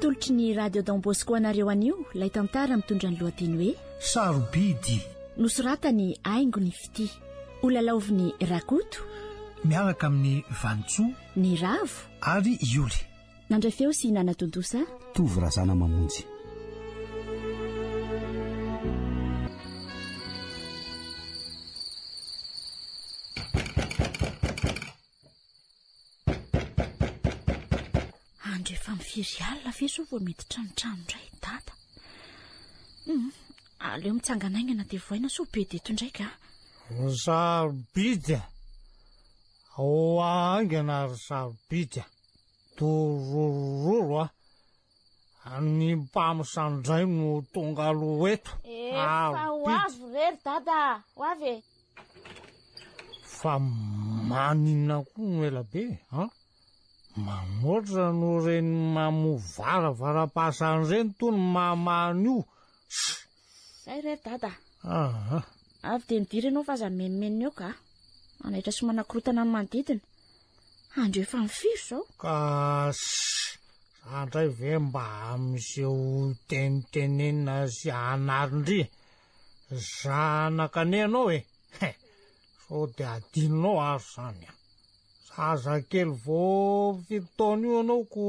atolotry ny radio don bosco anareo anio ilay tantara mitondra ny lohateny hoe sarobidy nosoratany aingo ny fitia olalaovin'ny rakoto miaraka amin'ny vanintsoa Ny ravo. Avy i Ioly. Nandray feo sy nanatontosa. Tovo Razana Mamonjy. firy alina ve zao vao mety tranotrano indray dada hmm, aleo mitsangana aingana dia voaina so be deto indray ka zarobidy Ahoa haingana ry sarobidy dororororo a! Ny mpamosandray no tonga aloha eto, Efa ho avy re ry dada a! Ho avy e! Fa maninona koa no ela be an? Manoatra no reny mamoa varavarampasan reny to ny mamaha an'io, ssy! Zay re ry dada a. Aha. Avy dia midira ianao fa aza mimimimina eo ka. Manaitra sy manakorotana ny manodidina. Andro efa amin'ny firy izao? Ka shh. Za indray ve mba amin'izay tenitenenina sy anarin-dry zanaka an'ianao e. He. Sao dia adinonao ary izany a. Zaza kely vao fito taona io anao ko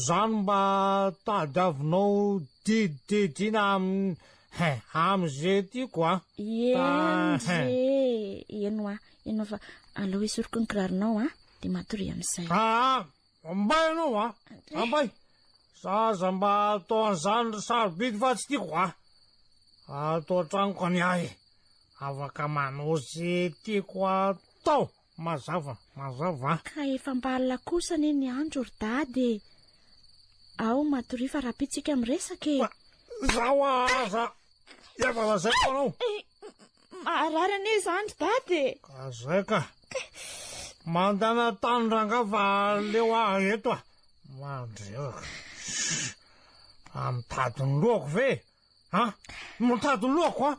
zany mba tadiavinao didididina amin'ny Hein, am'zay tiako a. Enje, eno a, eno fa alao esoriko ny kiraronao a, de matoria am'zay. Ah, Ambay anao a! Ambay! Za aza mba atao an'izany ry sarobidy fa tsy tiako a! Ato an-tranoko ny ahy, afaka manao ze tiako atao, mazava, mazava. Ka efa mba alina kosa anie ny andro ry dada e! Ao matoria fa rahampitso tsika miresaka e! Fa zaho aza efa lazaiko anao Maharary anie izany ry dada e! Ka zay ka! Mandana tany rangah fa aleo aho eto a! Mandreraka! Fa mitady ny lohako ve? Ha? Mitady ny lohako a!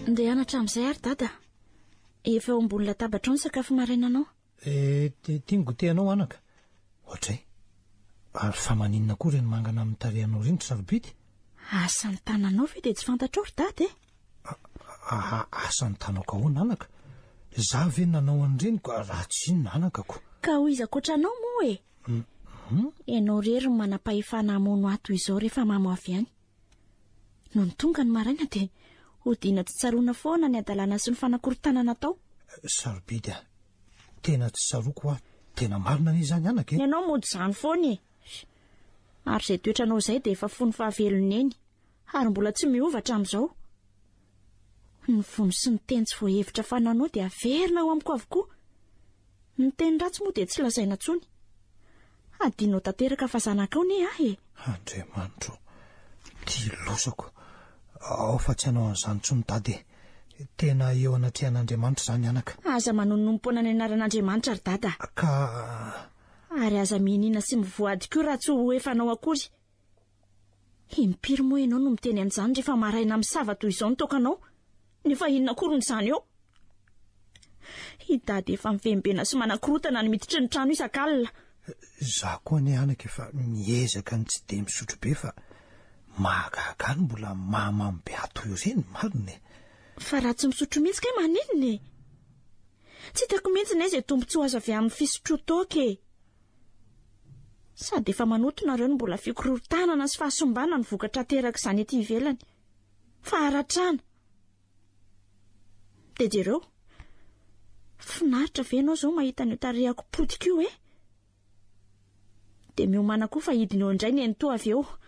Ndeha hianatra amin'izay ary dada. Efa ao ambony latabatra ao ny sakafo marainanao. Eh, ity ny goûter-nao anaka. Ohatray. Ary fa maninona koa ireny mangana amin'ny tarehinao ireny ry sarobidy? Asa ny tananao ve dia tsy fantatrao ry dada e? Asa ny tanako ahoana anaka? Izaho ve nanao an'ireny ka raha tsy inona anakako? Ka ho iza koatra anao moa e? Ianao irery no manam-pahefana hamono ahy toy izao rehefa mamo avy any. Nony tonga ny maraina dia hodiana tsy tsaroana foana ny hadalana sy ny fanakorotana natao. Sarobidy a! Tena tsy tsaroako hoa tena marina anie izany anaka e! Ny anao mody izany foana e! Ary izay toetranao izay dia efa fony fahavelon'i Neny, ary mbola tsy miova hatramin'izao. Ny vono sy ny teny tsy voahevitra fananao dia averina ao amiko avokoa. Ny teny ratsy moa dia tsy lazaina intsony. Hadinonao tanteraka fa zanakao ne aho e! Andriamanitro, dilozako. Ao fa tsy hanao an'izany intsony Dada e! Tena eo anatrehan'Andriamanitra izany anaka. Aza manonompoana ny anaran'Andriamanitra ry Dada. Ka. Ary aza mihiniana sy mivoady koa raha tsy ho efanao akory. Impiry moa ianao no miteny an'izany rehefa maraina misava toy izao ny tokanao? Nefa inona akoriny izany eo? I Dada efa mivembena sy manakorotana ny miditry ny trano isak'alina. Izaho koa anie anaka efa miezaka ny tsy dia misotro be fa mahagaga ny mbola mahamamo be ahy toy ireny, marina e! Fa raha tsy misotro mihitsy kay maninona e? Tsy hitako mihitsy ny aiza tombontsoa azo avy amin'ny fisotroan-toaka e! Sady efa manoto nareo no mbola fikorotanana sy fahasimbana ny vokatra aterak'izany ety ivelany. Faharatrana. Dia jereo. Finaritra ve ianao izao mahita an'io tarehako potika io e? Dia miomana koa fa hidina eo indray ny eny toa avy eo.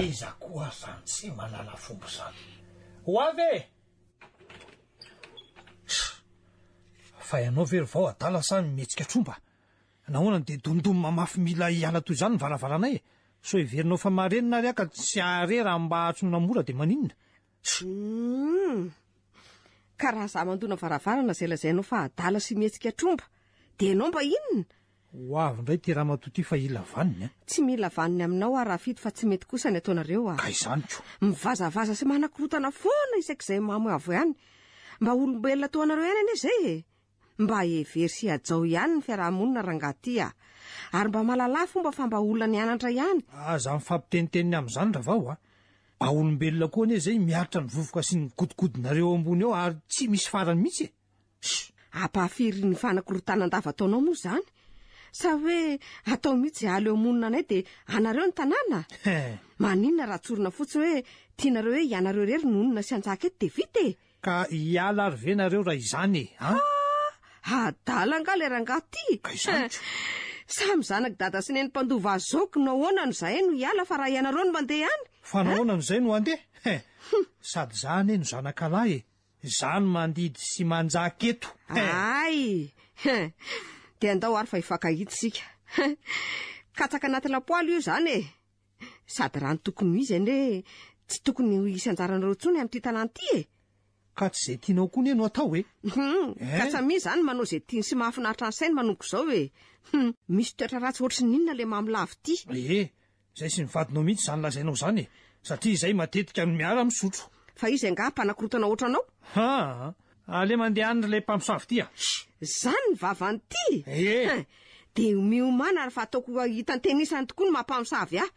Iza koa zany tsy malala fomba zany? Ho avy e! Tch! Fa ianao ve ry vao adala sa mihetsika tromba? Nahoana no dia domdom mamafy mila hiala toy izany ny varavaranay e? Sao heverinao fa marenina ary aho ka tsy hahare raha mba atsoina mora dia maninona? Humm! Ka raha za mandona varavarana zay lazainao fa adala sy mihetsika tromba de enao mba inona? Ho avy indray ity ramatoa ity fa hila vaniny a! Tsy mila vaniny aminao aho Rafito fa tsy mety kosa ny ataonareo a! Ka izany ko! Mivazavaza sy manakorotana foana isak'izay mamo avo ihany! Mba olombelona toa anareo ihany anie zay e! Mba hevero sy hajao ihany ny fiaraha-monina rangaha ty a! Ary mba malalà fomba fa mba olona nianatra ihany! Aza mifampitenitenina amin'izany ravao a! Mba olombelona koa anie izay miaritra ny vovoka sy ny godigodinareo eo ambony eo ary tsy misy farany mihitsy e! Sh! Ampahafiry ny fanakorontanan-dava ataonao moa izany? Sa hoe atao mihitsy aly eo monina anay dia anareo ny tanàna? Maninona raha tsorina fotsiny hoe tianareo hoe ianareo irery no honina sy hantsaka eto dia vita e! Ka hiala ary ve nareo raha izany e? An! Ah! Adala angaha ilay rangahy ty? Ka izany ko! Samy zanak'i Dada sy Neny mpandova azy zao kno ahoana no zahay no hiala fa raha ianareo no mandeha any? Fa An! nahoana no zay no handeha? He! Sady za anie no zanakalahy e! Za no mandidy sy manjaka eto! He! Ay! He! Dia andao ary fa hifankahita isika! He! Katsaka anaty lapoaly io izany e! Sady raha ny tokony ho izy anie tsy tokony ho hisy anjaranareo intsony amin'ity tanàna ity e! Ka tsy izay tianao koa anie no atao e! Hum, eh? ka samia izany manao izay tiany sy mahafinaritra ny sainy manomboka izao e! Hum, misy toetra ratsy ohatry ny inona ilay mamolavo ity? Ee, izay sy ny vadinao mihitsy izany lazainao izany e! Satria izahay matetika no miara-misotro. Fa izy angaha mpanakorotana ohatranao? Haa, Aleo mandeha any ilay mpamosavy ity a! Hsh! Zany ny vavan'ity? Ee! Hein! Dia miomana ary fa ataoko ho hitan'ny tenisany tokoa ny maha mpamosavy ahy!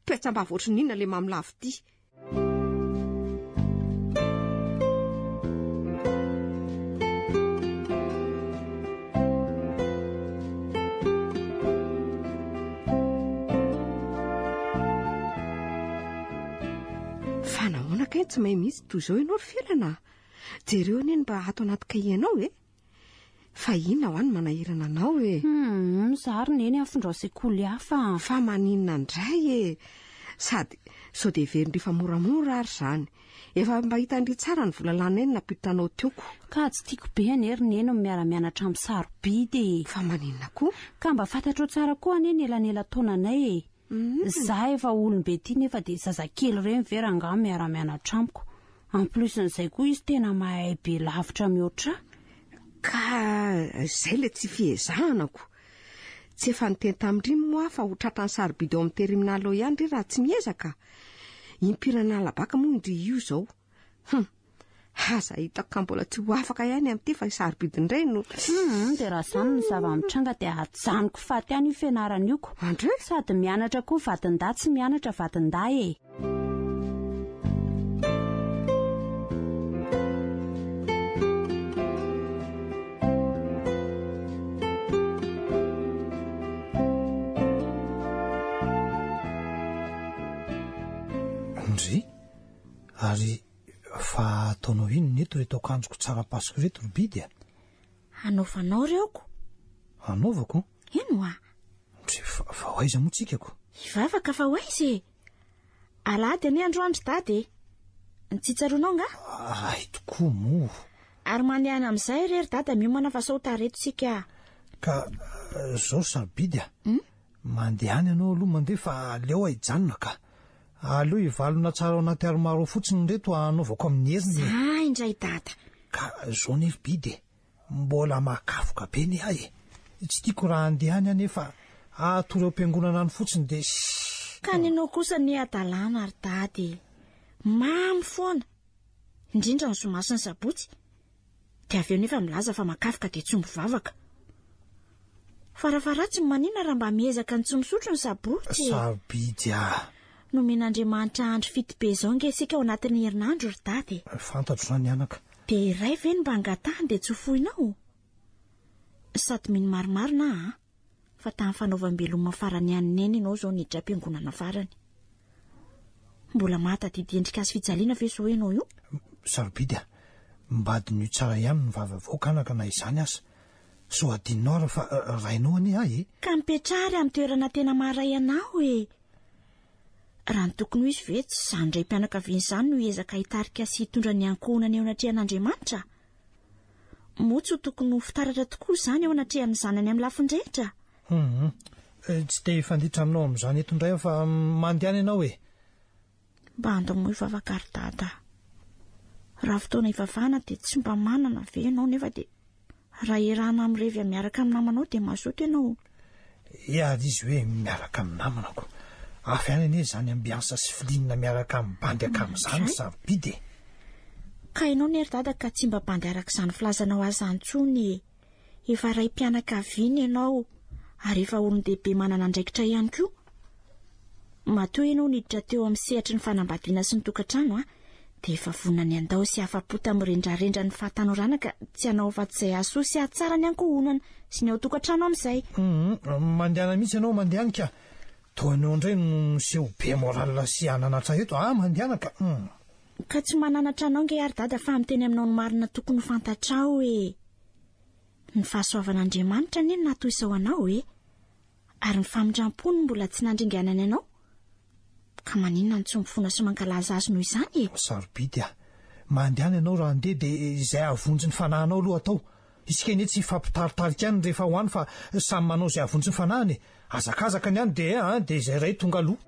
Petsam-bava ohatry ny inona ilay mamolavo ity! Fa nahoana kay tsy may mihitsy toy izao ianao ry Felana a! Jereo anie ny raha ato anaty kahienao e! Fa inona hoa ny manahirana anao e? Humm, za ary neny afindrao sekoly hafa. Fa maninona indray e! Sady sao dia heverin'ry fa moramora ary izany. Efa mba hitan-dry tsara ny vola lanay no nampiditranao tioko. Ka tsy tiako be anie ry neny ny miara-mianatra amin'ny sarobidy e! Fa maninona koa? Ka mba fantatrao tsara koa anie ny elanela-taonanay e! Za efa olombe ty nefa de zazakely reny ve rangah miara mianatra amiko. En plus n'izay koa izy tena mahay be lavitra mihoatrah. Ka zay le tsy fiezahana ko. Tsy efa niteny tamindry moa fa ho tratrany sarobidy ao amin'ny teriminal ao ihany ry raha tsy miezaka. Impiry an'alabaka moa indry io zao. Hum. Aza hitako ka mbola tsy ho afaka ihany amin'ity fa sarobidy indray no Hum, dia raha izany ny zava-mitranga dia ajanoko faty any io fianarana io ko. Andre? Sady mianatra koa vadindahy tsy mianatra vadindahy e. Andre? Ary Fa ataonao inona eto reto akanjoko tsara paso reto ry bidy a! Hanaovanao reo ko! Hanaovako? Eny wa! Ndry fa, fa ho aiza moa tsika ko? Hivavaka fa ho aiza e! Alahady anie androany ry dada e! Tsy tsaroanao nga? Ahy tokoa moa! Ary mandehana amin'izay re ry dada miomana fa sao ho tara eto tsika a! Ka, zao sarobidy a! Hum? Mandeha any ianao aloha mandeha fa aleo aho hijanona ka! Aleo hivalona tsara ao anaty armoire ao fotsiny ireto hanaovako amin'ny heriny e! Za indray dada! Ka zao nefa Bide e! Mbola mahakafoka be ny ahy e! Tsy tiako raha handeha any aho nefa hatory ao am-piangonana any fotsiny dia ssss! Ka ny anao kosa anie hadalana ry dada e! Mamy foana! Indrindra ny zoma sy ny sabotsy! Dia avy eo nefa milaza fa makaroka dia tsy mivavaka. Farafaharatsiny manina raha mba miezaka ny tsy misotro ny sabotsy e! Sarobidy ah! Nomen'Andriamanitra andro fito be izao nge isika ao anatin'ny herinandro ry dada e! Fantatro izany anaka. Dia iray ve no mba angatahany dia tsy ho foinao? Sady mino marimarina aho an! Fa tamin'ny fanaovam-beloma farany ihany Neny ianao izao niditra am-piangonana farany. Mbola mahatadidy endrika azo fijaliana ve izao ianao io? Sarobidy a! Mba adinio tsara ihany ny vava avoaka anaka na izany aza. Sao adinonao ary fa rainao anie ahy e! Ka mipetraha ary amin'ny toerana tena maharay anao e! Raha ny tokony ho izy ve tsy izany raim-pianakaviana izany no hiezaka hitarika sy hitondra ny ankohonany eo anatrehan'Andriamanitra? Moa tsy ho tokony ho fitaratra tokoa izany eo anatrehan'ny zanany amin'ny lafiny rehetra? Humm. Tsy te hifanditra aminao amin'izany eto indray aho fa mandehana ianao e! Mba andao moa hivavaka ry Dada a! Raha fotoana hivavahana dia tsy mba manana ve ianao nefa dia raha erahana mirevy miaraka amin'ny namanao dia mazoto ianao? Hiady izy hoe miaraka amin'ny namanako. Avy any anie izany ambiansa sy filinina miaraka amin'ny bandy akamin'izany ry sarobidy e! Ka ianao ne ry dada ka tsy mba bandy araka izany filazanao azy izany intsony e! Efa raim-pianakaviana ianao ary efa olon-dehibe manana andraikitra ihany koa. Matoa ianao niditra teo amin'ny sehatry ny fanambadiana sy ny tokantrano, dia efa vonona ny handao sy hafa-po tamin'ny rendrarendran'ny fahatanorana ka tsy hanao afa-tsy izay hahasoa sy hahatsara ny ankohonana sy ny ao an-tokantrano amin'izay. Mandehana mihitsy ianao mandehany ka! Toa anao indray no miseho be moral sy hananatra eto a! Mandehana ka um! Ka tsy mananatra anao ange ary dada fa miteny aminao ny marina tokony ho fantatrao e! Ny fahasoavan'Andriamanitra anie no natoy sao anao e! Ary ny famindram-pony mbola tsy nandringanany anao? Ka maninona no tsy mifona sy mankalaza Azy noho izany e? Sarobidy a! Mandehana ianao raha handeha dia izay hahavonjy ny fanahinao aloha atao. Isika anie tsy hifampitaritarika ihany rehefa ho any fa samy manao izay hahavonjy ny fanahiny e! Hazakazaka ny any dia dia izay iray tonga aloha.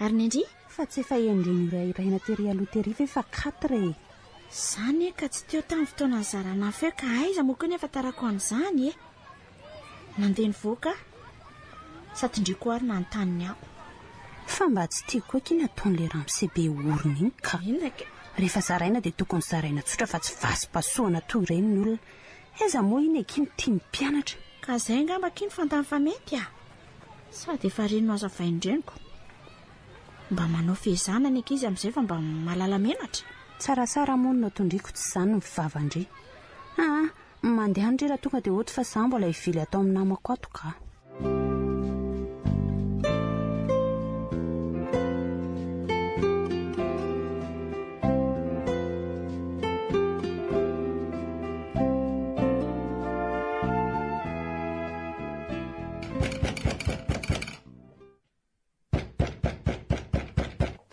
Ary ny ndry? Fa tsy efa hendry norahirahina tery aloha tery ve fa quatre e! Zany e ka tsy teo tamin'ny fotoana nizarana afo eo ka aiza moa koa ny ahafantarako an'izany e! Nandeha nivoaka aho sa tindriako ary nanontany ny ahy. Fa mba tsy tiako koa akia ny ataon'ilay ramose be orona iny ka! Inona kay? Rehefa zaraina dia tokony zaraina tsotra fa tsy vasim-pahasoana toa ireny ny olona! Aiza moa iny akia no tian'ny mpianatra! Ka izay angamba akia no fantany fa mety a! Sady efa ireny nohazavainy ireny ko. Mba manao fehezana ny ankizy amin'izay fa mba mahalala menatra. Tsaratsara moa no tondriako tsy izany ny vava-ndry. Aa! mandeha any re raha tonga dia hody fa izaho mbola hivily atao amin'ny namako ato kah.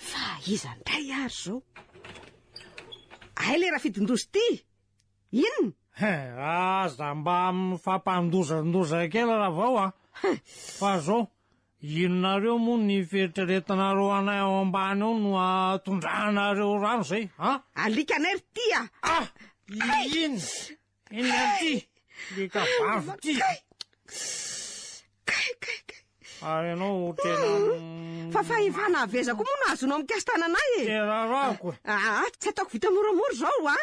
Fa iza ndray ary izao? Hay ilay rafidin-doza ity! Inona? He, aza mba mifampandozandoza kely ravao a! Fa izao, inonareo moa ny fieritreretanareo anay ao ambany ao no ahatondranareo rano izay, an? Alikanay ry tia! Ah! Inona? Eny aty, le kabavy ty. Kay, kay, kay. Ary ianao tena... Ah, fa fahefana aveza koa moa no azonao mikasitana anay e. Tena rako e. Ah, ah, tsy ataoko vita moramora izao a.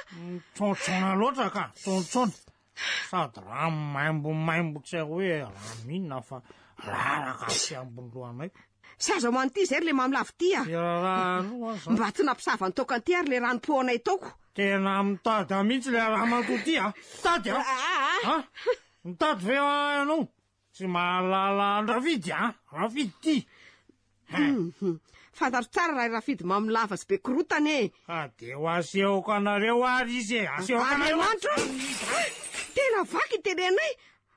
Tsontsona loatra ka, tsontsona. Sady raha maimbo maimbo tsy hoe raha minina fa raraka tsy ambony lohanay. Tsy aza ho an'ity izay ry le mamy lavo ty a! Mba tsy nampisava ny toaka an'ity ary le rano poanay toako! Tena mitada mihitsy le ramatoa ty a! Mitady a! Ha? Mitady ve ianao? Tsy mahalala an-dRafidy a! Rafidy ty! Hum, fantatro tsara raha i Rafidy mamy lava sy be korotana e! Ka dia ho asehoko anareo ary izy e! Asehoko anareo! Andriamanitra o! Tena vaky ny tenenay!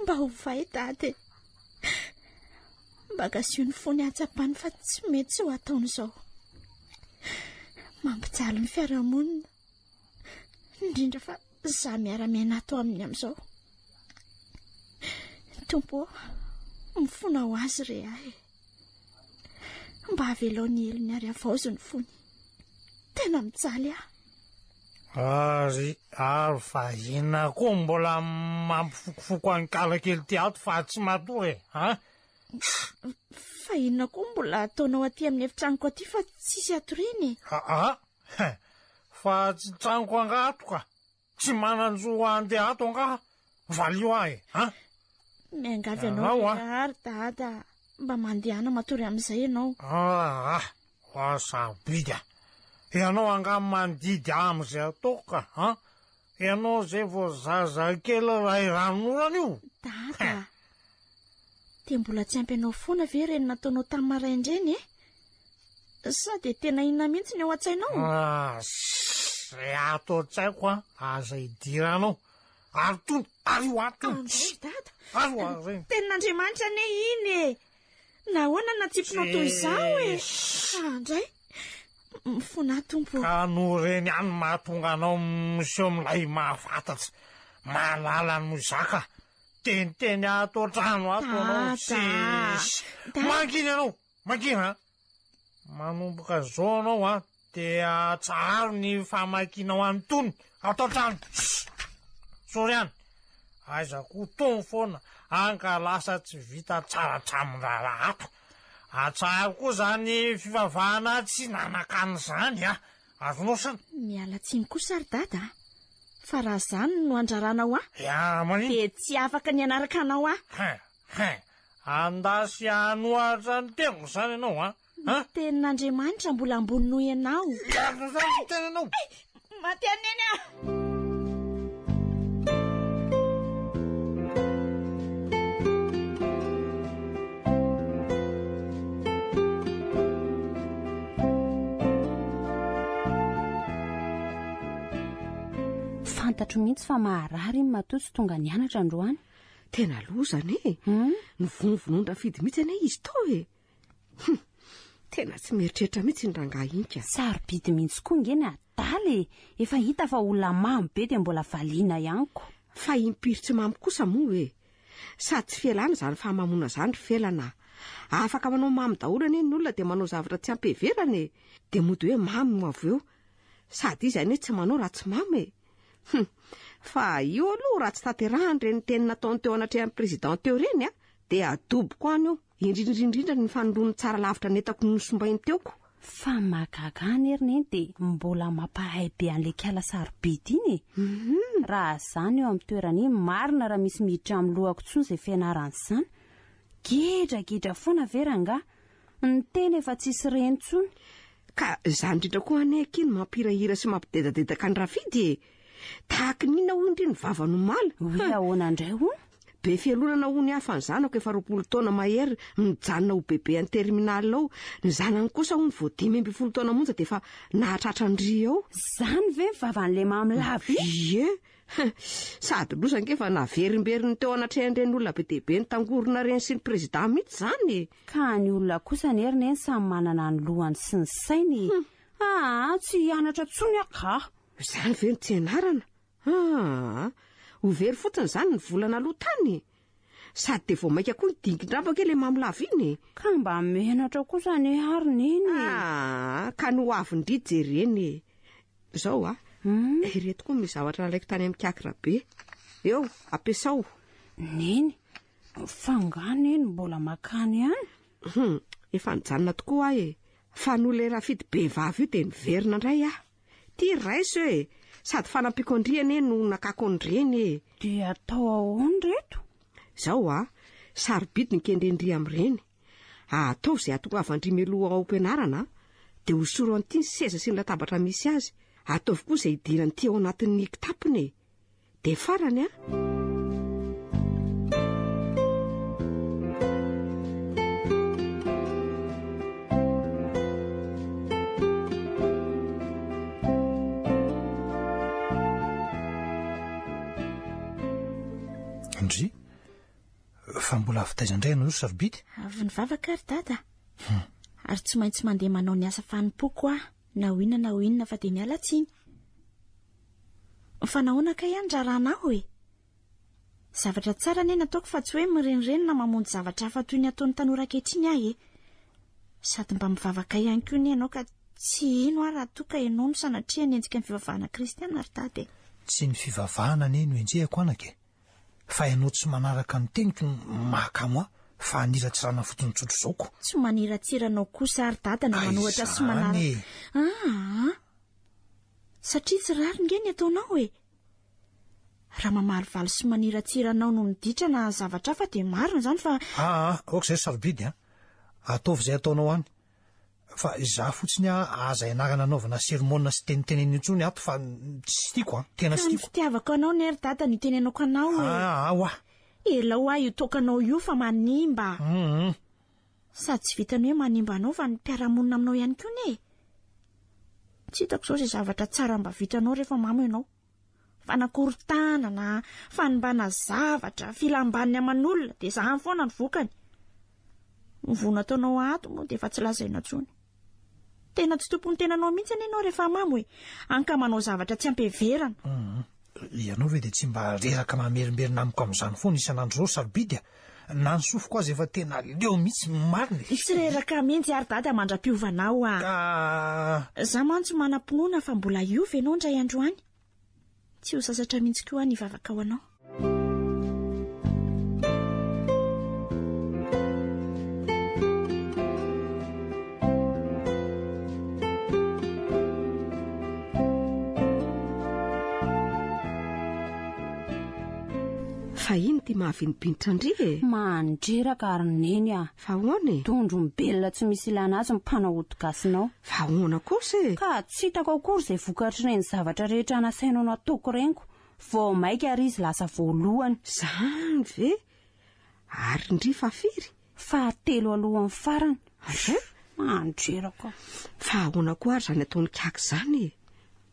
Mba ovay dada e! Mba gasio ny fony hahatsapany fa tsy mety izao ataony izao. Mampijaly ny fiarahamonina, indrindra fa za miara-miaina ato aminy amin'izao. Tompo ô, mifona ho azy re ahy e! Mba avelao ny helony ary avaozo ny fony. Tena mijaly aho. Ary ary vahina koa mbola mampifokofoko an'i Kalakely ty ato fa tsy matory e, ha? Fa inona koa mbola ataonao aty amin'ny efitranoko aty fa tsisy atoriana e? Aa, fa tsy tranoko angatoka. Tsy manan-jo handeha ato angaha? Valio ahy e! An! Miangavy anao Ianao, an. lehilahy ry Dada mba mandehana matory amin'izay ianao. Aa! Ho aho sarobidy an! Ianao angaha mandidy ahy amin'izay ataoko ka an! Ianao izay vao zazakely iray ranonorana io! Dada! Dia mbola tsy ampy anao foana ve ireny nataonao tamin'ny maraina ireny e? Sao dia tena inona mihitsy ny ao an-tsainao? Ah, Izay ato an-tsaiko an, aza idiranao. Ary tony, ary io ato tony. Andray ry dada. Ary io ary ireny. Tenin'Andriamanitra anie iny e. Nahoana no natsipinao toy izao e? Andray. Mifona aho tompo. Ka noho ireny ihany no mahatonga anao miseho milay mahafantatra. Mahalala ny mozaka. Teniteny ato an-trano ato ianao. Dada. Tsisy. Dada. Mangina ianao. Makina a! Manomboka zao anao a, de atsaharo ny famakinao an'itony ato an-trano. Sorry an! Aiza koa tony foana an ka lasa tsy vita tsara hatramin'ny raharaha ato. Atsaharo koa zany fivavahana tsy nanakana zany a! Azonao san? Miala tsiny kosa ry dada a! Fa raha zany no andraranao ahy. Dia maninona? Dia tsy afaka ny hanaraka anao ahy. Hein! Hein! Anda sy hanohatra ny teniko izany ianao an! Ny tenin'Andriamanitra mbola ambony noho ianao. Miarina izany ny tenanao! Hay! Maty an'i Neny aho! Fantatro mihitsy fa maharary iny matoa tsy tonga nianatra androany. Tena loza anie e. Hmm? Novonovonon-dRafidy mihitsy anie izy to e. Hum, tena tsy mieritreritra mihitsy ny rangahy inka. Sarobidy mihitsy koa nge ny adala e. Efa hita fa olona mamy be dia mbola valiana ihany ko. Fa impiry tsy mamy kosa moa e. Sady tsy fialana izany fahamamoana izany ry felana. Afaka manao mamy daholo anie ny olona dia manao zavatra tsy ampiheverana e. Dia mody hoe mamy moa avy eo. Sady izy anie tsy manao raha tsy mamo e! Hum! Fa io aloha raha tsy tanterahany ireny teny nataony teo anatrehan'ny Président teo ireny an, dia adoboko any io, indrindrindrindra ny fanondron'ny tsara lavitra nentako nosombainy teo ko! Fa ny mahagaga ahy anie ry Neny dia mbola mampahay be an'ilay kiala sarobidy iny e! Raha za no eo amin'ny toerany iny marina raha misy miditra amin'ny lohako intsony izay fianarana izany! Gedragedra foana ve rangaha! Ny teny efa tsisy reny tsony. Ka zany indrindra koa anie akia no mampirahira sy mampidedadedaka ny rafidy e! Tahaky ny inona hoy ndry ny vava no mala? Oui ahoana ndray hono? Be fialonana hono hafa ny zanako efa roapolo taona mahery mijanona ho bebe any terminal ao, ny zanany kosa hono vao dimy ambin'ny folo taona monja dia efa nahatratra ndry ao. Zany ve ny vavan'le mamy lava iny? Ie! Sady loza ange fa naverimberin'ny teo anatrehan'ireny olona be dia be nitangorona ireny sy ny président mihitsy zany e! Ka ny olona kosa anie ry neny samy manana ny lohany sy ny sainy e! Aa tsy hianatra tsony aho kah! Izany ve no tsy ianarana? Aa! Ho very fotsiny izany ny volana aloha tany e! Sady dia vao mainka koa hidingin-drambaka ilay mamy lava iny e! Ka mba menatra kosa anie aho ry neny e! Aa! Ka ny ho avin-dry jerena e! Izao a! Ireto koa ny zavatra nalaiko tany amin'ny kiakirabe. Eo, ampiasao. Neny, Fa nga neny mbola makany ihany? Hum, efa nijanona tokoa aho e. Fa noho ilay rafidy be vava io dia miverina indray aho. Ty ry raiso e, sady fanampiako an-dry anie no nakako ny reny e. Dia atao ahoana ry reto? Izao a, sarobidy ny kendren-dry amin'ireny. Ataovy izay hahatongavan-dry mialoha ao am-pianarana, dia hosorao an-ty ny seza sy ny latabatra misy azy. Ataovy koa izay hidiran'ity ao anatin'ny kitapony e. Dia farany an! fa mbola avy taiza indray ianao sarobidy avy nivavaka ary dada hmm. ary tsy maintsy mandeha manao ny asa fanompoako aho na ho inona na ho inona fa dia miala tsiny Fa nahoana kay aho niraharaha anao e? Zavatra tsara anie nataoko fa tsy hoe mirenireny na mamonjy zavatra hafa toy ny ataon'ny tanora ankehitriny aho e! Sady mba mivavaka ihany koa anie ianao ka tsy hino aho raha toa ka ianao no sanatria hanenjika ny fivavahana kristiana ry dada e! Tsy ny fivavahana anie no enjehiko anaka e! Fa ianao tsy manaraka ny teniko no mahakamo ahy fa haniratsirana fotsiny tsotr'izao ko! Tsy maniratsira anao kosa aho ry dada na manohatra sy manaraka. Ka izany e! Aa! Satria tsy rariny nge ny ataonao e! Raha mamalivaly sy maniratsira anao no miditra na zavatra hafa dia marina izany fa. Aa ok zay ry sarobidy a! Ataovy izay ataonao any! Fa izaho fotsiny a aza ianarana anaovana sermona sy tenitenenina intsony ato fa tsy tiako a! Tena tsy tiako! Ka ny fitiavako anao ne ry dada no itenenako anao e! Aa oah! Elao aho io toaka anao io fa manimba! Hum! Sady tsy vitan'ny hoe manimba anao fa ny mpiara-monina aminao ihany koa anie e! Tsy hitako izao izay zavatra tsara mba vitanao rehefa mamo ianao. Fanakorontanana, fanimbana zavatra, filam-baniny aman'olona, dia izany foana ny vokany. Ny voa nataonao ato moa dia efa tsy lazaina intsony. Tena tsy tompon'ny tenanao mihitsy anie ianao rehefa mamo e. Hany ka manao zavatra tsy ampy heverana. Hum, ianao ve dia tsy mba reraka mamerimberina amiko amin'izany foana isan'andro izao ry sarobidy a! Na ny sofiko aza efa tena leo mihitsy ny marina e! Tsy reraka mihitsy ary dada mandra-piovana aho a! Ka. Za mantsy manam-pinoana fa mbola hiova ianao indray andro any. Tsy ho sasatra mihitsy koa aho ny hivavaka ho anao. Fa iny ty mahavinopinitra ndry e! Mandreraka ary neny ah! Fa ahoana e? Dondro mibelona tsy misy ilana azy ny mpanao ody gasinao. Fa ahoana kosa e? Ka tsy hitako akory izay vokatr'ireny zavatra rehetra nasainao nataoko ireny ko. Vao maika ary izy lasa voalohany. Zany ve? Ary ndry fa firy? Fahatelo alohan'ny farany. Andreraka. Fa ahoana koa ary izany ataon'i Kaka izany e?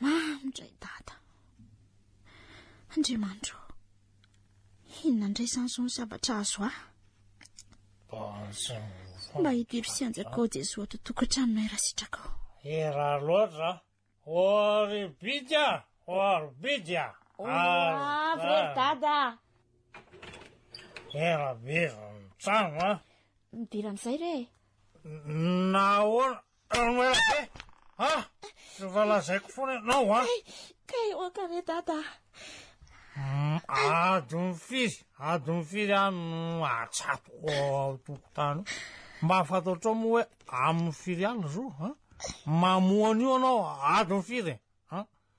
Mamy indray dada. Andriamanitro, inona indray izany izao ny zavatra azo ahy? Mba hidiro sy hanjakao Jesoa ato tokantranonay raha sitrakao. Hira loatra. Oribidya, oribidya. Avy ry dada. Hira bizy ny trano a. Midera amin'izay re e. Nahoana? Ano ela be! Ha? Efa lazaiko foana ianao a! Kay oka re dada! Adon'ny firy, adon'ny firy aho no atsatoka ao tokontany. Mba fantatrao moa hoe amin'ny firy aly zo? Mamoa an'io anao adon'ny firy?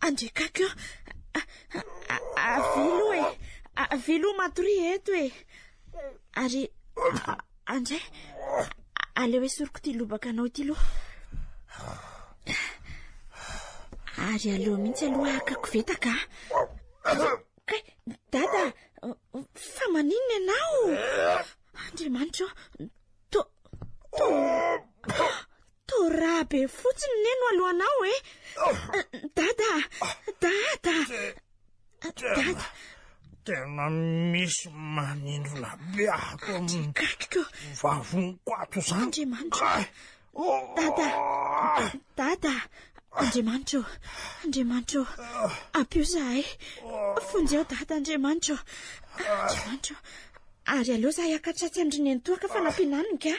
Andriakako eo. Avelo e. Avelo matory eto e. Ary andray aleo esoriko ity lobaka anao ity loha. Ary aleo mihitsy aloha hakako vetaka. Kay, dada, fa maninona ianao? Andriamanitra, to to Torah be fotsiny ne no alohanao e. Dada, dada. Dada. Tena misy manindrona be ato amin'ny katriko. Vavoniko ato izany. Andriamanitra. Dada. Dada. Andriamanitro, Andriamanitro, ampio zahay. Fonjeo dada Andriamanitro. Andriamanitro. Ary aleo zahay akatratsy andry nenitoaka fa nampiananiny ka.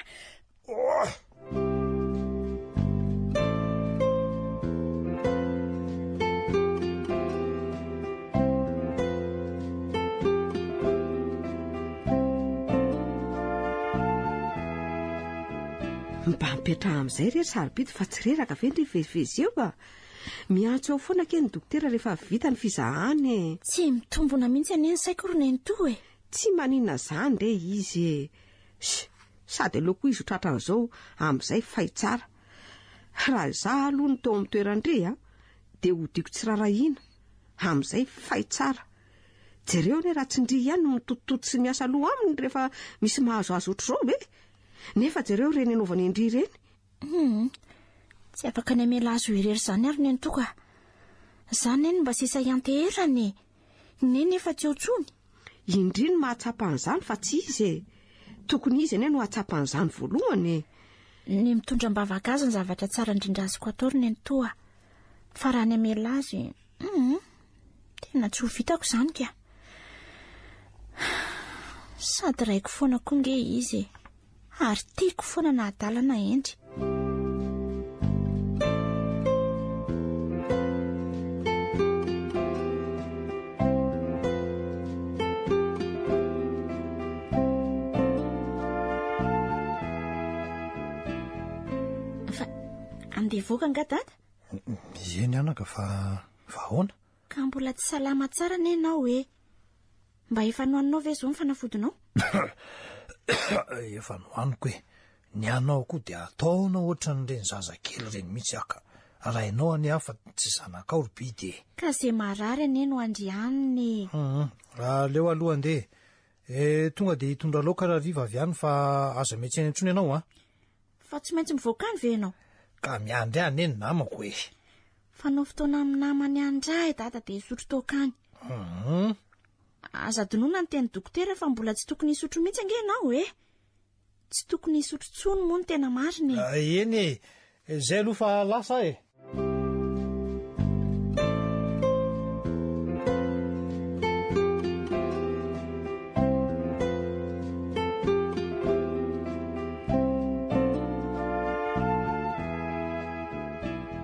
Mba mipetraha amin'izay re ry sarobidy fa tsy reraka ve ny rivezivezy eo a? Miantso eo foana anie ny dokotera rehefa vita ny fizahana e. Tsy mitombona mihitsy anie ny saiko ry nenitoa e. Tsy maninona izany re izy e. Sh! Sady aleo koa izy ho tratran'izao amin'izay fay tsara. Raha izaho aloha no teo amin'ny toeran-dry a, dia hodiako tsy rarahiana, amin'izay fay tsara. Jereo anie raha tsy ndry ihany no mitotototo sy miasa aloha aminy rehefa misy mahazoazo ohatr'izao ve? Nefa jereo ireny anaovany an-dry ireny. Humm, tsy afaka ny hamela azy ho irery izany ary ny antoako a. Izaho anie no mba sisa hianteherana e. Neny efa tsy ao tsony. Indry no mahatsapa an'izany fa tsy izy e. Tokony izy anie no hahatsapa an'izany voalohany e. Ny mitondra am-bavaka azy ny zavatra tsara indrindra azoko atao ry nenitoa. Fa raha ny hamela azy, hum, tena tsy ho vitako izany ka. Sady raiko foana koa nge izy e. Ary tiako foana na adala na hendry. Fa andeha hivoaka angaha dada? Ieny anaka fa fa ahoana? Ka mbola tsy salama tsara anie ianao ê! Mba efa nohaninao ve izao ny fanafodinao? Efa nohaniko ê! Ny anao koa dia ataonao ohatran'ireny zaza kely ireny mihitsy aho ka! Raha ianao anie aho fa tsy zanakao ry bidy ê! Ka izay marary anie no andrianiny ê! Humm! Aleo aloha andeha ê! Tonga dia hitondra laoka rahariva avy any fa aza miantsena intsony ianao an! Fa tsy maintsy mivoaka any ve ianao? Ka miandry ahy anie ny namako ê! Fanao fotoana amin'ny namany any ndray i dada dia hisotro toaka any. Hum. Aza adinoina ny teny dokotera fa mbola tsy tokony hisotro mihitsy ange ianao e! Tsy tokony hisotro tsony moa ny tena marina e! Ah, eny e! Izay aloha fa lasa aho e!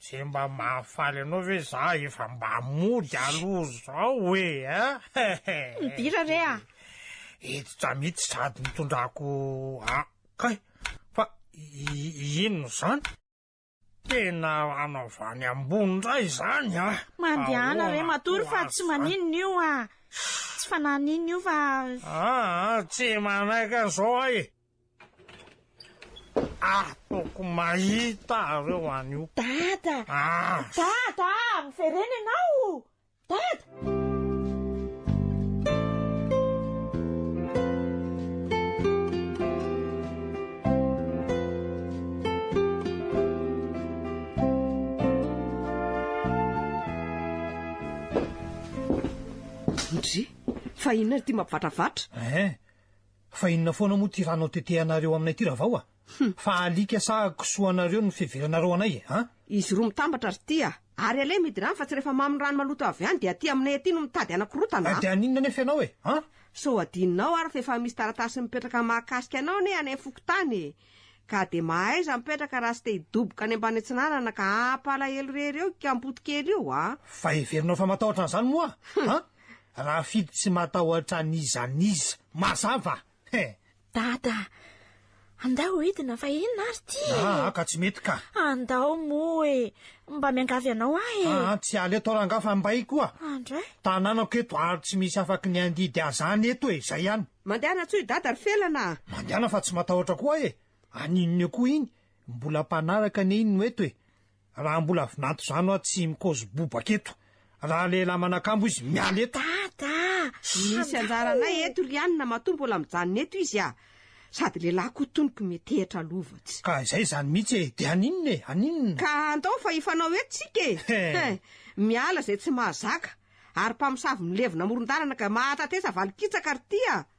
Ze mba mahafaly anao ve za efa mba mody aloha zao e eh! Midira re a! Hiditra mitsy sady nitondrako a! Kay! Fa inona zany? Tena ana avy any ambony ndray zany a! Mandehana re matory fa tsy maninona io a! Tsy fanahy an'inona io fa. Aa tsy manaiky an'izao aho e! Ah! Toko mahita areo anio. Dada! Ah! Dada! Miverena ianao! Dada! Ndry! Fa inona ity mampivatravatra? Eh! Fa inona foana moa ty ranao tetehanareo aminay ty ravao a! Fa alika sa kisoa anareo ny fiheveranareo anay e a! Izy roa mitambatra ry ty a! Ary aleha mihidy rano fa tsy rehefa mamy ny rano maloto avy any dia aty aminay aty no mitady hanakorontana a! Dia haninona anefa ianao e a! Sao hadinonao ary fa efa misy taratasy mipetraka mahakasika anao anie any fokontany e! Ka dia mahaiza mipetraka raha tsy te hidoboka any ambany atsinanana ka hampalahelo irery eo i kampoto kely io a! Fa heverinao fa matahotra an'izany moa aho a! Rafidy tsy matahotra an'iza n'iza. Mazava? He! Dada, andao hidina fa inona ary ty e! Aa ka tsy mety ka! Andao moa e! Mba miangavy anao aho e! Aa tsy hiala eto rangah fa mbay koa! Andray! Tanànako eto ary tsy misy afaky ny handidy azany eto e! Zay ihany! Mandehana tsoy Dada ry felana a! Mandehana fa tsy matahotra koa aho e! An'inona eo koa iny? Mbola mpanaraka anie iny no eto e! Raha mbola vinanto zano aho tsy mikozy bobaka eto. Raha lehilahy manakambo izy miala eto. Dada a! Misy anjaranay eto ry anona matoa mbola mijanona eto izy a! Sady lehilahy koa toniko metehitra lova tsy. Ka izay zany mihitsy e! De haninona e! Haninona? Ka andao fa hifanao eto tsika e! He! Miala izay tsy mahazaka! Ary mpamosavy milevina amoron-dalana ka mahatatesa valin-kitsaka ry ty a!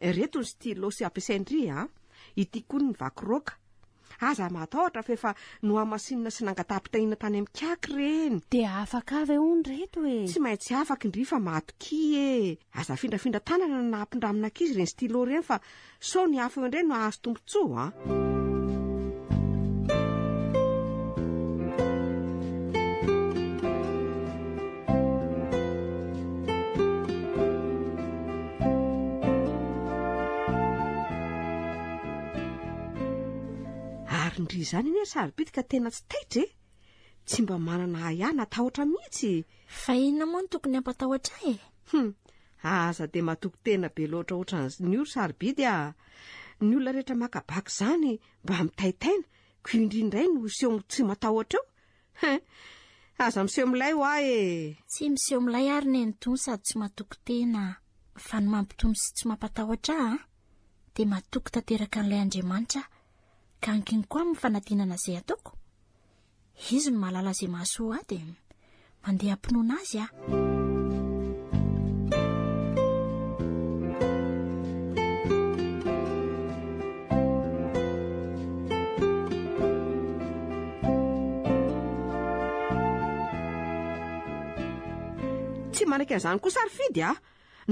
Ireto ny stylos ampiasain-dry a! Ity koa ny vaky roaka. Aza matahotra fa efa nohamasinina sy nangataham-pitahiana tany amin'ny cak ireny. Dia afaka ve hono ireto e? Tsy maintsy afaka indry fa matokia e! Aza afindrafindra tanana na ampindramina ankizy ireny stylo ireny fa sao ny afo indray no hahazo Tso a! Ary ndry izany anie ry sarobidy tena tsy taitra e! Tsy mba manana ahiahy na tahotra mihitsy! Fa inona moa no tokony hampatahotra ahy e? Hum, aza dia matoky tena be loatra ohatran'izny io ry sarobidy ah! Ny olona rehetra maka bac izany mba mitaitaina, ko indry indray no seho tsy matahotra eo? Hein! Aza miseho milay hoa e! Tsy miseho milay ary ny an'i Tony sady tsy matoky tena ah! Fa ny mampitony sy tsy mampatahotra ahy an! Dia matoky tanteraka an'ilay Andriamanitra aho, ka ankiny koa amin'ny fanadinana izay ataoko? Izy no mahalala izay mahasoa ady e. Mandeha am-pinoana Azy aho. Tsy manaiky an'izany koa sarofidy a!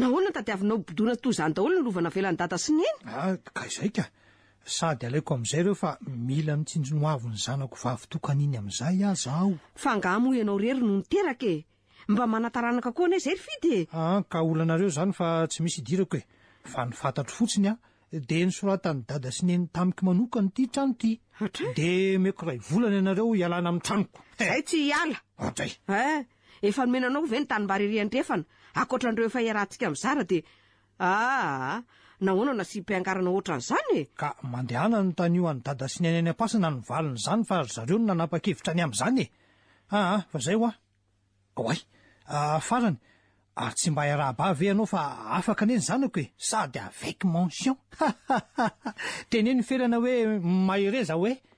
Nahoana no tadiavinao ho bodoina toy izany daholo ny lova navelan'i Dada sy Neny? Ah, ka izay ka! Sady alaiko amin'izay ireo fa mila mitsinjo ny hoavin'ny zanako vavy tokana iny amin'izay aza aho. Fa angaha moa ianao irery no niteraka e! Mba manataranaka koa anay izay ry Fidy e! An, ka olanareo izany fa tsy misy idirako e! Fa ny fantatro fotsiny an, dia nosoratan'i Dada sy Neny tamiko manokana ity trano ity. Hatray! Dia omeko iray volana ianareo hialana amin'ny tranoko. He! Izahay tsy hiala! Hatray! He! Efa nomena anao ve ny tanimbary ery andrefana, ankoatra an'ireo efa iarahantsika mizara dia Aah! Nahoana nasiam-piangarana ohatran'izany e? Ka mandehana anontanio an'i Dada sy Neny any Ampasana ny valin'izany fa ry zareo no nanapa-kevitra ny amin'izany e! Aa! Fa izay hoa! Oay! Aa! Farany! Ary tsy mba hiaraha-ba ve ianao fa afaka anie ny zanako e! Sady avec mention! Hahahaha! Teneno Felana hoe mahereza hoe!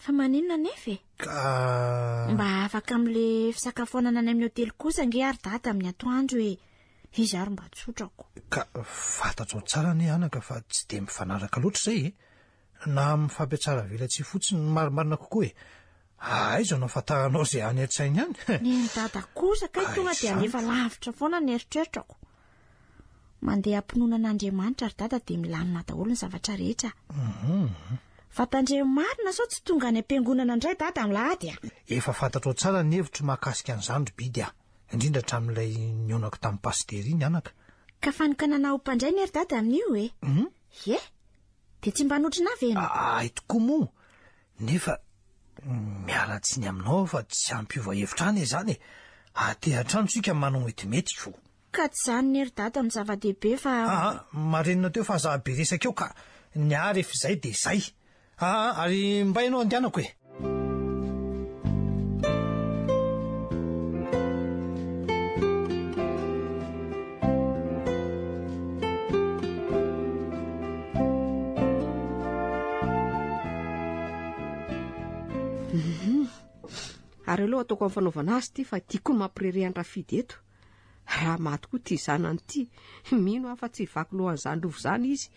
Fa maninona anefa e? Ka... Mba afaka amin'le fisakafoanana any amin'ny hotely kosa ange ary dada amin'ny atoandro e. Izy ary mba tsotrako. Ka fatatsao tsara anie anaka fa tsy dia mifanaraka loatra izay e. Na amin'ny fampiatsara velatsihy fotsiny no marimarina kokoa e. Aiza no afantaranao izay any an-tsainy any? Nen'i dada kosa kay tonga dia alefa lavitra foana ny eritreritrako. Mandeha am-pinoana an'Andriamanitra ry dada dia milamina daholo ny zavatra rehetra. Mhm. Fa tandremo marina sao tsy tonga any am-piangonana indray dada milady a! Efa fantatrao tsara ny hevitro mahakasika an'izany ry Bidy a! Indrindra hatramin'ilay nionako tamin'i Pasiteri ny anaka. Ka fanokanana ho mpandray ne ry dada amin'io e! Hum? Ye! Dia tsy mba hanotrona ahy ve ianao? A- Ahy tokoa moa! Nefa miala tsiny aminao aho fa tsy hampiova hevitra any izany e! Aty an-trano isika manao metimety ko! Ka tsy zany ne ry dada no zava-dehibe fa. Aa marenina teo fa za be resaka eo ka ny ahy ref zay de zay aa ary mba enao andianako e. Ary aleo ataoko amin'ny fanaovana azy ity fa tiako koa ny mampirereha an-dRafidy eto. Raha maty koa ity zanany ity, mino aho fa tsy hivaky lohan'izany lova izany izy,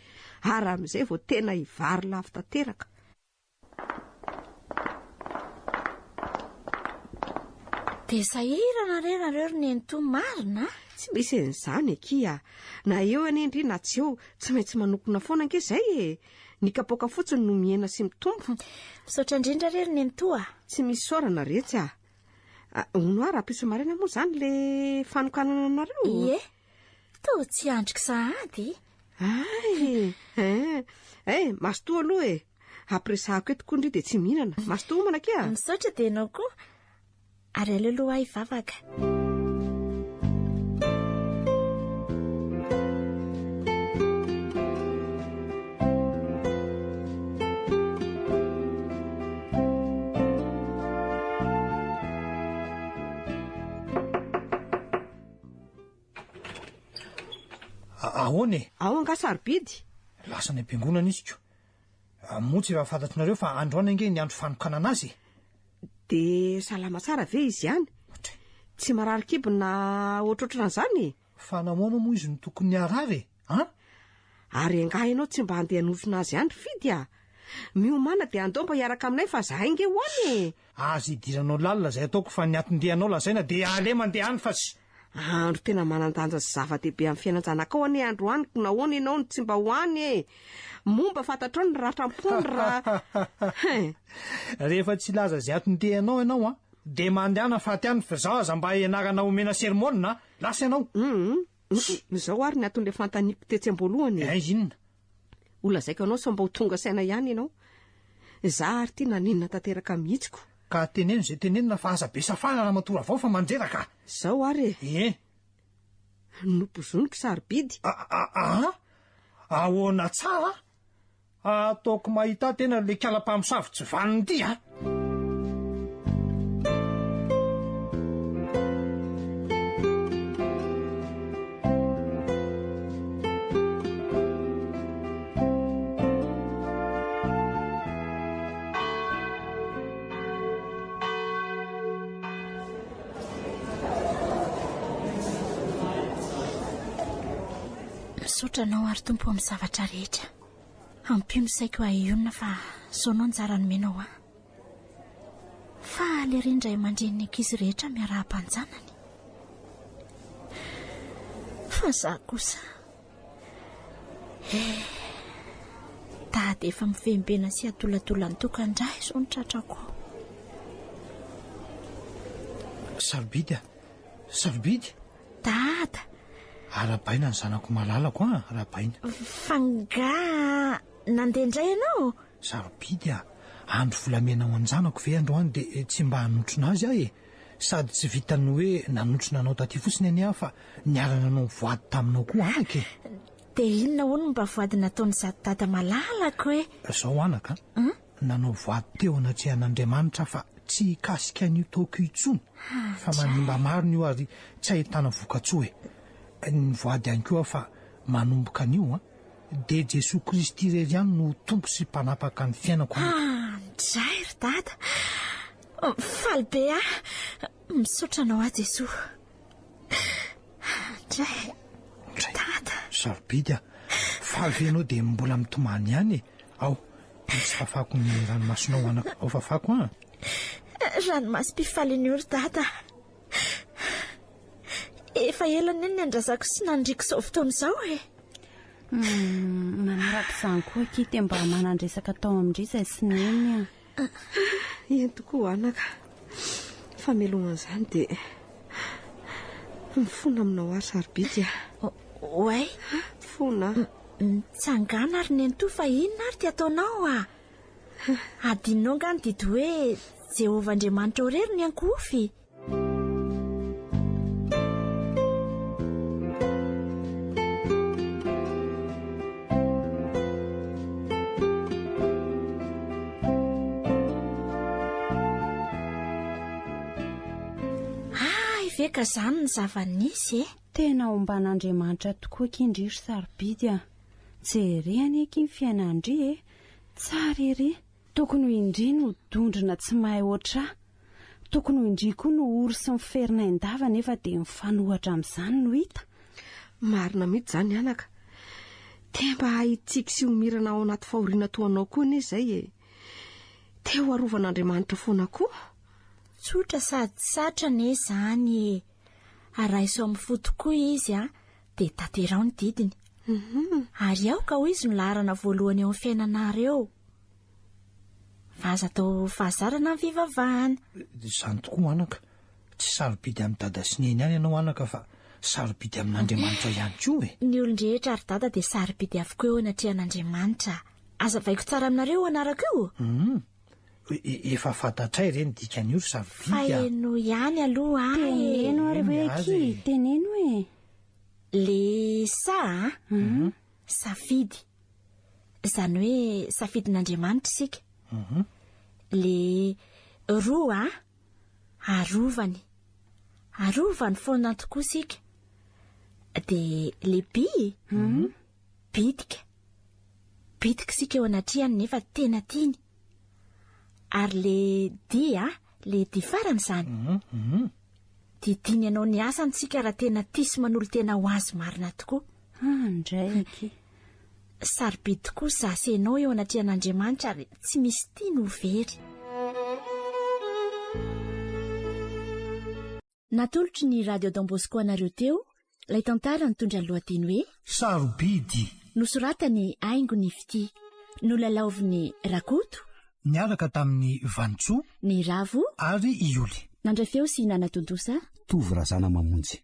ary amin'izay vao tena hivary lafo tanteraka. Dia sahirana re nareo ry nenitoa marina a! Tsy misy an'izany akia a! Na eo anie ndry na tsy eo, tsy maintsy manokona foana ange izay e! Ny kapoaka fotsiny no mihena sy mitombo. Misaotra indrindra re ry nenitoa a! Tsy misy isaorana retsy a! Hono ary hampisy maraina moa izany le fanokanana anareo? Ie, toa tsy andriko sahady. Ay, eh, eh, mazotoa aloha e. Ampiresahako eto koa ndry dia tsy mihinana. Mazotoa homana akia. Misaotra dia ianao koa. Ary aleo aloha ahy vavaka. Ahoana e? Ao angaha sarobidy? Lasa any am-piangonana izy ko. Moa tsy efa fantatr'nareo fa androany ange ny andro fanokanana azy e. Dia salama tsara ve izy ihany? Tsy marary kibo na ohatrohatran'izany e? Fa nahoana moa izy no tokony hiarara e? An? Ary angaha ianao tsy mba handeha hanofona azy any Fidy a? Miomàna dia andao mba hiaraka aminay fa zahay nge ho any e! Aza idiranao lalina izay ataoko fa ny atin-dehanao lazaina dia aleo mandeha any fa tsy. Andro tena manan-danja sy zava-dehibe amin'ny fiainan-janakao anie androany ko nahoana ianao no tsy mba ho any e? Moa mba fantatrao ny ratra am-pony raha Hein! Rehefa tsy hilaza izay atin-dehanao ianao an dia mandehana faty any fa izaho aza mba hianarana omena sermonina an! Lasa ianao! Humm! Izao ary ny anton'ilay fanontaniako tetsy am-boalohany e! Eh, inona? Ho lazaiko anao sao mba ho tonga saina ihany ianao. Izaho ary ity nanenina tanteraka mihitsy ko! Ka teneno izay tenenina fa aza be safana Ramatoa Ravao fa mandreraka! Izao ary e! Ie! Nopozoniko sarobidy! A-a-a! Ahoana tsara? Ataoko mahita tena ilay kala mpamosavy tsy vanona ity a! Misaotra anao ary Tompo amin'ny zavatra rehetra. Ampio ny saiko hahionona fa zao no anjara nomenao ahy. Faly ery ny ray aman-dreny ny ankizy rehetra miarahaba an-janany. Fa za kosa eh Dada efa mivembena sy adoladola ny tokan-dra izao ny tratrako ao. Sarobidy a! Sarobidy! Dada! Arahabaina ny zanako malalako an! Arahabaina! F'angaha nandeha indray ianao? Sarobidy an! Andro volamena ho an-janako ve androany dia tsy mba hanotrona azy aho e! Sady tsy vitan'ny hoe nanotrona anao taty fotsiny anie aho fa niara-nanao voady taminao koa anaka e! Dia inona hono mba voady nataon'izato dada malalako e? Izao anaka an! nanao voady teo anatrehan'Andriamanitra fa tsy hikasika an'io taoko io intsony fa manimba marina io ary tsy ahitana vokatsoa e! ny voady ihany koa fa manomboka anio an! dia Jesoa Kristy irery ihany no Tompo sy Mpanapaka ny fiainako an! Handray ry Dada! Faly be aho! Misaotra anao aho Jesoa! Andray. Andray. Dada. Sarobidy ah. Faly ve ianao dia mbola mitomany ihany e. Ao, tsy fafako ny ranomasonao anako. Ao fafako ah. Ranomasom-pifaliana io ry dada. Efa ela ny andrazako sy nandriko izao fotoana izao e. Hmm, manaraka izany koa Kite mba manandresaka tao amin-dry izay sy neny ah. Aa! eny tokoa anaka, ny fameloma an'izany dia mifona aminao ary sarobidy a! Oay! Mifona a! Mitsangàna ry nenitoa fa inona ary ty ataonao a! Adinonao angaha ny didy hoe Jehovah Andriamanitrao irery no iankohofy? ka zany ny zava-nisy e tena omban'andriamanitra tokoa kindry ry sarobidy a jereny eky ny fiainandry e tsara ery Tokony ho indria no dondrona tsy mahay hoatrà. Tokony ho indria koa no ory sy miferina endava nefa dia mifanohatra amin'izany no hita. Marina mihitsy izany anaka. Te mba hitsiky sy homirana ao anaty fahoriana toa anao koa anie izay e. Te ho arovan'Andriamanitra foana koa. Tsotra sady satra anie izany e. A raiso amin'ny fo tokoa izy a, dia tanteraho ny didiny. Ary aoka ho izy no laharana voalohany eo amin'ny fiainanareo. Fa aza atao fahazarana ny fivavahana. Izany tokoa anaka. Tsy sarobidy amin'i Dada sy Neny ihany ianao anaka fa sarobidy amin'Andriamanitra ihany koa e! Ny olon-drehetra ry Dada dia sarobidy avokoa eo anatrehan'Andriamanitra. Aza avaiko tsara aminareo io anarako io o! Hum. Efa fantatray re ny dikan'io ry sarobidy a! Fa henoy ihany aloha aho e! Teneno ary hoe akia e! Teneno e! Le sa a! Hum. Safidy. Izany hoe safidin'Andriamanitra isika. Le roa a! Arovany. Arovany foana tokoa isika. Dia le bi e! Bitika. Bitika isika eo anatrehany nefa tena tiany. Ary le di a! Le dia farany izany. Hum, Didiany anao ny asany tsika raha tena tia sy manolo-tena ho azy marina tokoa. Ah, ndraiky. Sarobidy tokoa za sy ianao eo anatrehan'Andriamanitra ary tsy misy tia no very. Natolotry ny Radio Don Bosco anareo teo ilay tantara nitondra ny lohateny hoe. Sarobidy. Nosoratany Haingo ny fitia. Nolalaovin'i Rakoto. Niaraka tamin'i Vanintsoa. Ny Ravo. Ary i Ioly. Nandray feo sy nanatontosa. Tovo Razanamamonjy.